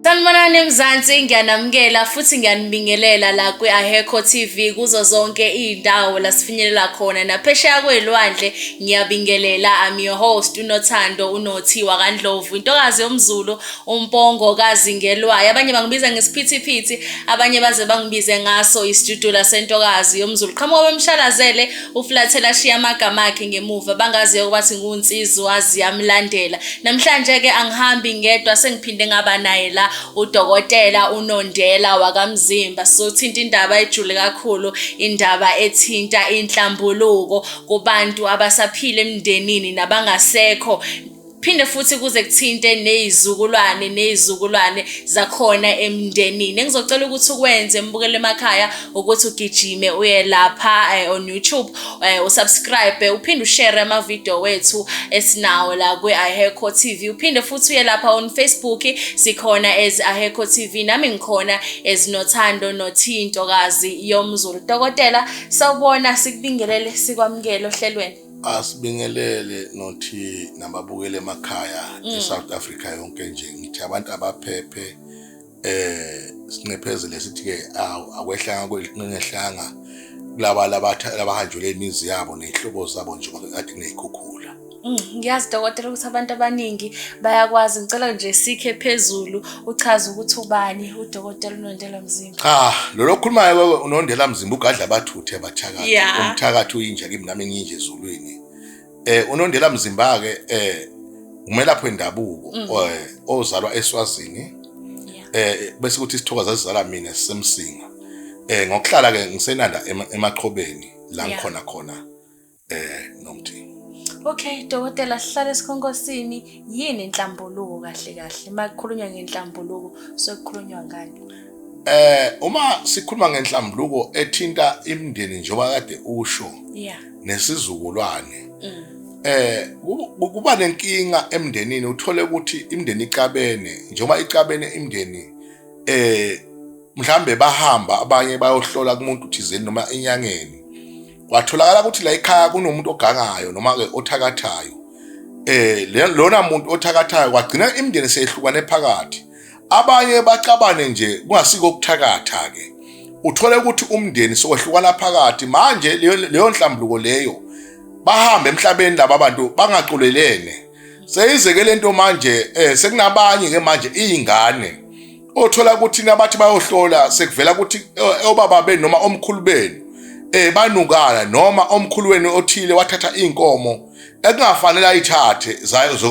Sanibonani Mzansi ngiyanamukela futhi ngiyanibingelela la kwi-Aheko TV kuzo zonke iy'ndawo la sifinyelela khona naphesheya kwey'lwandle ngiyabingelela I'm your host unothando unothi wakandlovu intokazi yomzulu umpongo kazingelwayo abanye bangibiza ngesiphithiphithi abanye baze bangibize ngaso isijudula sentokazi yomzulu qhamuka bemshalazele uflathele ashiya amagama akhe ngemuva bangaziyo ukuba singunsizwazi yamlandela namhlanje-ke angihambi ngedwa sengiphinde ngaba naye la udokotela unondela wakamzimba sizothinta indaba ejule kakhulu indaba ethinta inhlambuluko kubantu abasaphile emndenini nabangasekho phinde futhi kuze kuthinte neyizukulwane neyizukulwane zakhona emndenini engizocela ukuthi ukwenze embukele emakhaya ukuthi ugijime uye lapha eh, on YouTube eh, usubscribe uphinde ushare ama video wethu esinawo la kwi Aheco TV uphinde futhi uye lapha on Facebook sikhona as Aheco TV nami ngikhona as Nothando Nothinto kazi yomzulu dokotela sawubona sikubingelele sikwamukele ohlelweni asibingelele nothi nababukele emakhaya mm. eSouth Africa yonke nje ngithi abantu abaphephe eh sinqephezele sithi ke akwehlanga kwelinqehlanga kulaba labahanjelwe imizi yabo nezihlobo zabo nje kade kunezikhukhula mm, ngiyazi dokotela ukuthi abantu abaningi bayakwazi ngicela nje sikhe phezulu uchaze ukuthi ubani udokotela unondela mzimba cha lolo okhulumayo wewe unondela mzimba ugadla abathuthe abathakathi Ya. umthakathi uyinja kimi nami ngiyinje ezulwini eh unondela mzimba ke eh umelaphi wendabuko Mm. eh, ozalwa eswazini eh bese kuthi isithokoza sizala mina sisemsinga eh ngokuhlala ke ngisenanda ema- emaqhobeni la Ya. ngikhona khona eh nomthi okay dokotela sihlale sikhonkosini yini inhlambuluko kahle kahle makukhulunywa ngenhlambuluko sokukhulunywa ngani eh uma sikhuluma ngenhlambuluko ethinta imindeni njengoba kade usho yeah nesizukulwane mm. eh kuba nenkinga emndenini uthole ukuthi imndeni icabene njengoba icabene imndeni eh mhlambe bahamba abanye bayohlola kumuntu thizeni noma enyangeni kwatholakala ukuthi la ekhaya kunomuntu ogangayo noma-ke othakathayo um lona muntu othakathayo kwagcina imindeni seyehlukane phakathi abanye bacabane nje kungasiko ukuthakatha-ke uthole ukuthi umndeni sowehlukana phakathi manje leyo nhlambuluko leyo bahambe emhlabeni laba bantu bangaculelene seyizeke lento manje eh sekunabanye ke manje izingane othola ukuthi nabathi bayohlola sekuvela ukuthi eh, obaba benu noma omkhulu benu eh banukana noma omkhulu wenu othile wathatha inkomo ekungafanele ayithathe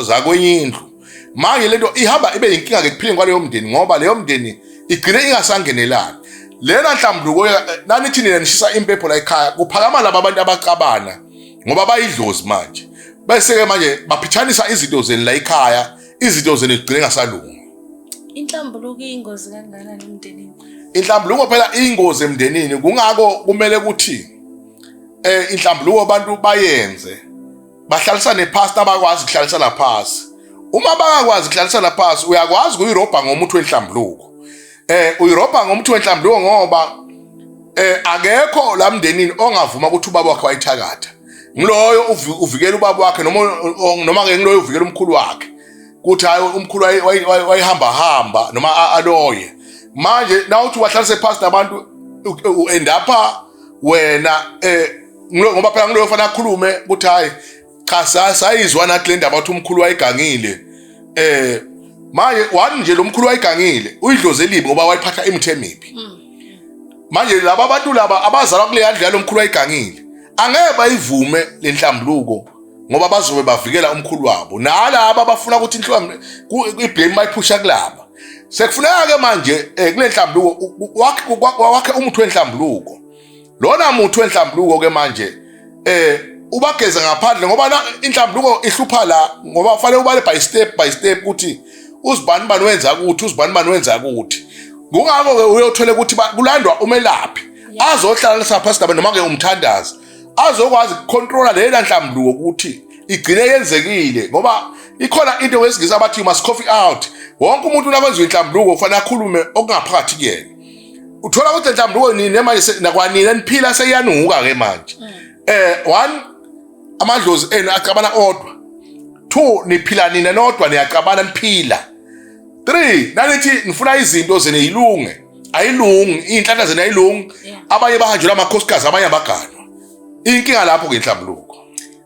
zakwenye indlu manje lento ihamba ibe yinkinga ke kuphileni kwaleyo mndeni ngoba leyo mndeni igcine ingasangenelani lena nhlambuluko eh, nanithini nishisa impepho la ekhaya kuphakama laba abantu abacabana ngoba bayidlozi manje bese-ke manje baphithanisa izinto zeni la ekhaya izinto zeni zigcine ngasalungi inhlambuluko iyingozi kangakanani emndenini inhlambuluko phela iyingozi emndenini kungako kumele ukuthi eh inhlambuluko abantu bayenze bahlalisane phansi abakwazi ukuhlalisana phansi uma bangakwazi ukuhlalisana phansi uyakwazi ukuyirobha ngomuthi wenhlambuluko eh uyirobha ngomuthi wenhlambulo ngoba eh akekho la mndenini ongavuma ukuthi ubaba wakhe wayithakatha ngiloyo uvikela ubaba wakhe noma noma ke ngiloyo uvikela umkhulu wakhe kuthi hayi umkhulu wayihamba hamba noma aloye manje nawuthi wahlalise phansi nabantu uendapha wena eh ngoba phela ngiloyo fanele akhulume ukuthi hayi cha sayizwa nathi le ndaba ukuthi umkhulu wayegangile eh manje wani nje lo mkhulu wayegangile uyidloze elibi ngoba wayiphatha imithe emibi hmm. manje laba bantu laba abazalwa kule yandlu yalo mkhulu wayegangile angeke bayivume le nhlambuluko ngoba bazobe bavikela umkhulu wabo nalaba abafuna ukuthi inhlamba iblame bayiphusha kulaba sekufuneka-ke manje um kule nhlambuluko wakhe umuthi wenhlambuluko lona muthi wenhlambuluko ke manje eh ubageza ngaphandle ngoba la inhlambuluko ihlupha la ngoba kufanele ubale by step by step ukuthi uzibani bani wenza ukuthi uzibani bani wenza ukuthi ngokho ke uyothole ukuthi kulandwa umelaphi azohlala sapha sidaba noma ke umthandazi azokwazi ukucontrola lela nhlambuluko ukuthi igcine yenzekile ngoba ikhona into wesingisa abathi you must coffee out wonke umuntu nakwenziwa inhlambuluko kufanele akhulume okungaphakathi kuyena uthola ukuthi mhlawumbe uwe nini manje nakwanini eniphila seyanuka ke manje mm. eh one amadlozi enu acabana odwa two niphila nina nodwa niyacabana niphila three nanithi nifuna izinto zene yilunge ayilungi iy'nhlaka zena ayilungi abanye bahanjelwa amakhosikazi abanye abaganwa inkinga lapho-ke inhlambuluko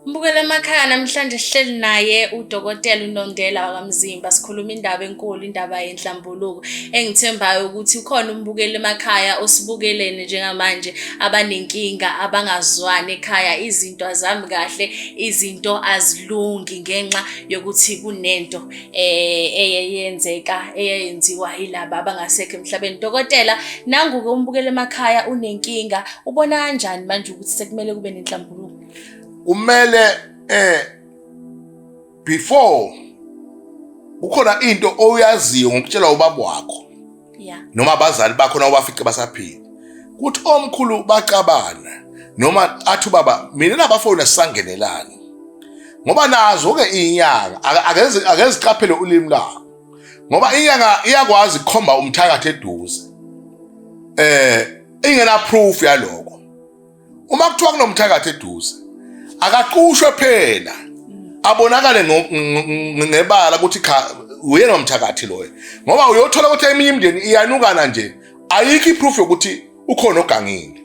Mbukela emakhaya namhlanje sihleli naye udokotela uNondela wakamzimba sikhuluma indaba enkulu indaba yenhlambuluko engithembayo ukuthi ukhona umbukela emakhaya osibukelene njengamanje abanenkinga abangazwani ekhaya izinto azami kahle izinto azilungi ngenxa yokuthi kunento eh eyenzeka eyenziwa yilaba abangasekho emhlabeni dokotela nangu ke umbukela emakhaya unenkinga ubona kanjani manje ukuthi sekumele kube nenhlambuluko kumele eh before kukhona into oyaziyo ngokutshelwa ubaba wakho yeah noma abazali bakho na ubafice basaphila kuthi omkhulu bacabana noma athi ubaba mina nabafowini sisangenelani ngoba nazo ke inyanga akeze akeziqaphele ulimi lakho ngoba inyanga iyakwazi ukukhomba umthakathi eduze eh ingena proof yaloko uma kuthiwa kunomthakathi eduze akaqushwe phela abonakale ngebala ukuthi cha uyena umthakathi loyo ngoba uyothola ukuthi eminye imindeni iyanukana nje ayikho iproof yokuthi ukhona ogangile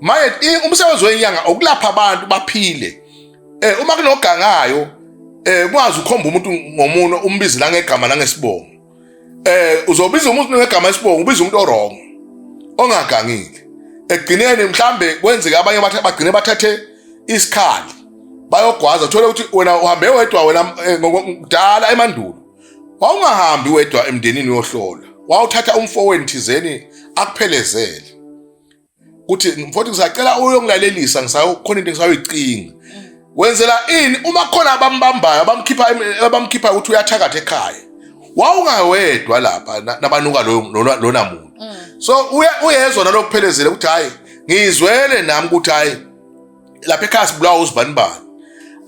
manje umsebenzi wenyanga ukulapha abantu baphile eh uma kunogangayo eh kwazi ukhomba umuntu ngomuno umbizi la ngegama la ngesibongo eh uzobiza umuntu ngegama esibongo ubiza umuntu orong ongagangile ekugcineni mhlambe kwenzeka abanye bagcine bathathe isikhali bayogwaza uthole ukuthi wena uhambe wedwa wena eh, kudala emandulo wawungahambi wedwa emndenini yohlola wawuthatha umfowenu thizeni akuphelezele kuthi mfowethu ngisacela uyongilalelisa ngisayokhona into engisayoyicinga wenzela ini uma khona abambambayo abamkhipha abamkhipha ukuthi uyathakatha ekhaya wawungawedwa lapha nabanuka lona muntu mm. so uyezwa nalokuphelezela ukuthi hayi ngizwele nami ukuthi hayi lapha ekhaya sibulawa uzibani bani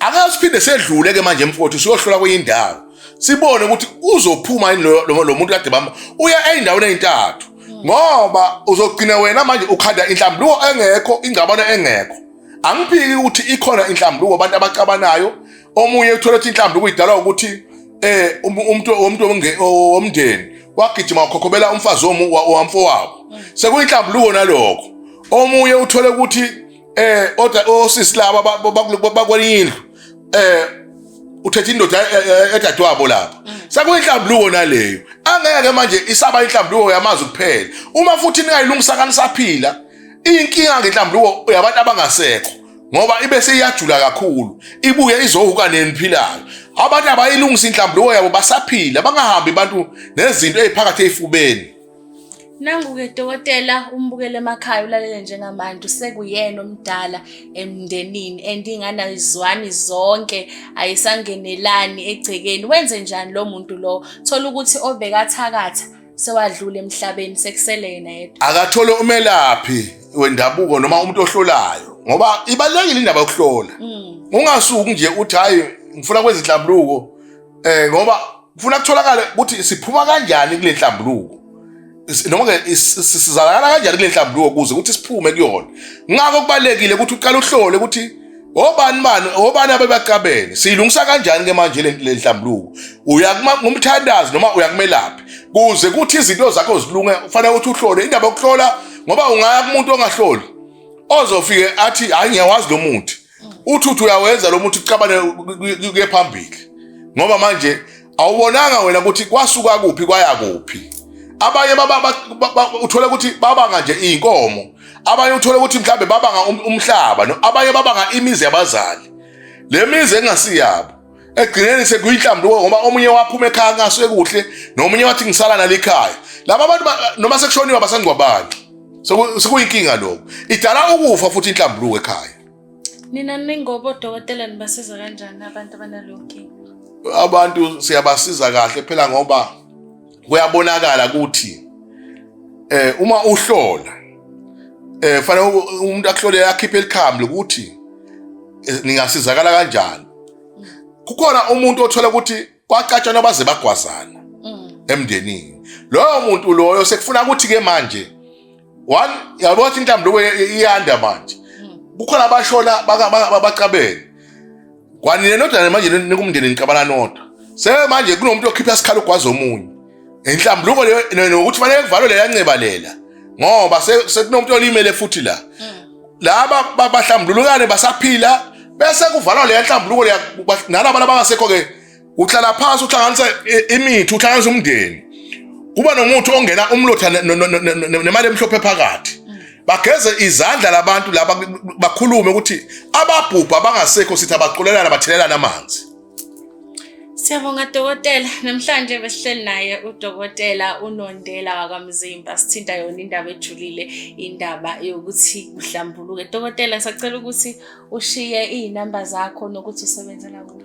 angeke siphinde sedlule ke manje mfowethu siyohlola kwenye indawo sibone ukuthi uzophuma yini lo muntu kade bamba uya ey'ndaweni ey'ntathu ngoba uzogcina wena manje ukhanda inhlambuluko engekho ingxabano engekho angiphiki ukuthi ikhona inhlambuluko abantu abacabanayo omunye uthola ukuthi inhlambuluko idalwa ukuthi eh um, umuntu umuntu womndeni wagijima wakhokhobela umfazi wamfowabo sekuyinhlambuluko naloko omunye uthole ukuthi eh oda osisi laba bakwelinye indlu eh uthethe indoda edadewabo lapha sekuyinhlambuluko naleyo angeke manje isaba inhlambuluko yamazwi kuphela uma futhi ningayilungisa kanisaphila inkinga ngenhlambuluko yabantu abangasekho ngoba ibe seyiyajula kakhulu ibuye izohuka neniphilayo abantu abayilungisa inhlambuluko yabo basaphila bangahambi abantu nezinto eziphakathi efubeni Nangu-ke dokotela umbukele emakhaya ulalele njengamanje usekuyena omdala emndenini and ingane ayizwani zonke ayisangenelani egcekeni wenze njani lo muntu lo thola ukuthi obekathakatha sewadlula emhlabeni sekusele yena yedwa akathole umelaphi wendabuko noma umuntu ohlolayo ngoba ibalekile indaba yokuhlola mm. ungasuki nje uthi hayi ngifuna kwezinhlambuluko eh ngoba kufuna kutholakale ukuthi siphuma kanjani kule nhlambuluko noma-ke sizalakala kanjani kule nhlambuluko kuze ukuthi siphume kuyona ngakho kubalulekile ukuthi uqale uhlole ukuthi obani bani obani abebaqabene siyilungisa kanjani ke manje le nhlambuluko uya kumthandazi noma uya kumelaphi kuze kuthi izinto zakho zilunge kufanele ukuthi uhlole indaba yokuhlola ngoba ungaya kumuntu ongahloli ozofike athi hayi ngiyawazi lo muthi uthi uthi uyawenza lo muthi ucabane kuye phambili ngoba manje awubonanga wena ukuthi kwasuka kuphi kwaya kuphi abanye uthole ukuthi babanga nje iy'nkomo abanye uthole ukuthi mhlawumbe babanga um-, umhlaba abanye babanga imizi yabazali le mizi engasiyabo ekugcineni sekuyinhlambuko ngoba omunye waphuma ekhaya ngasuke kuhle nomunye wathi ngisala nalikhaya laba abantu noma sekushoniwe abasangcwabani sekuyinkinga lokho idala ukufa futhi inhlambuluko ekhaya nina ningobo dokotela nibasiza kanjani abantu abanalonkinga abantu siyabasiza kahle phela ngoba kuyabonakala ukuthi eh uma uhlola eh fanele umuntu akuhlole akhiphe elikhambi ukuthi eh, ningasizakala kanjani kukhona umuntu othola ukuthi kwacatshana baze bagwazana mm. emndenini loyo muntu loyo sekufuna ukuthi ke manje one yabo wathi intambo lokho iyanda manje kukhona abashona bacabene kwanina nodwa manje nikumndeni nicabana nodwa se manje kunomuntu okhipha isikhala ugwaza omunye inhlambuluko leyo nokuthi fanele kuvalwe leya nceba lela ngoba sekunomuntu olimele futhi la mm. laba bahlambulukane basaphila bese kuvalwa leya nhlambuluko nalaba abangasekho-ke uhlala phansi uhlanganisa imithi uhlanganisa umndeni kuba nomuthi ongena umlotha nemali emhlophe phakathi bageze izandla labantu laba bakhulume ukuthi ababhubha bangasekho sithi abaqulelana bathelelana amanzi Siyabonga dokotela namhlanje besihleli naye udokotela unondela wakamzimba sithinta yona indaba ejulile indaba yokuthi uhlambuluke dokotela sacela ukuthi ushiye izinamba zakho nokuthi usebenzela kuphi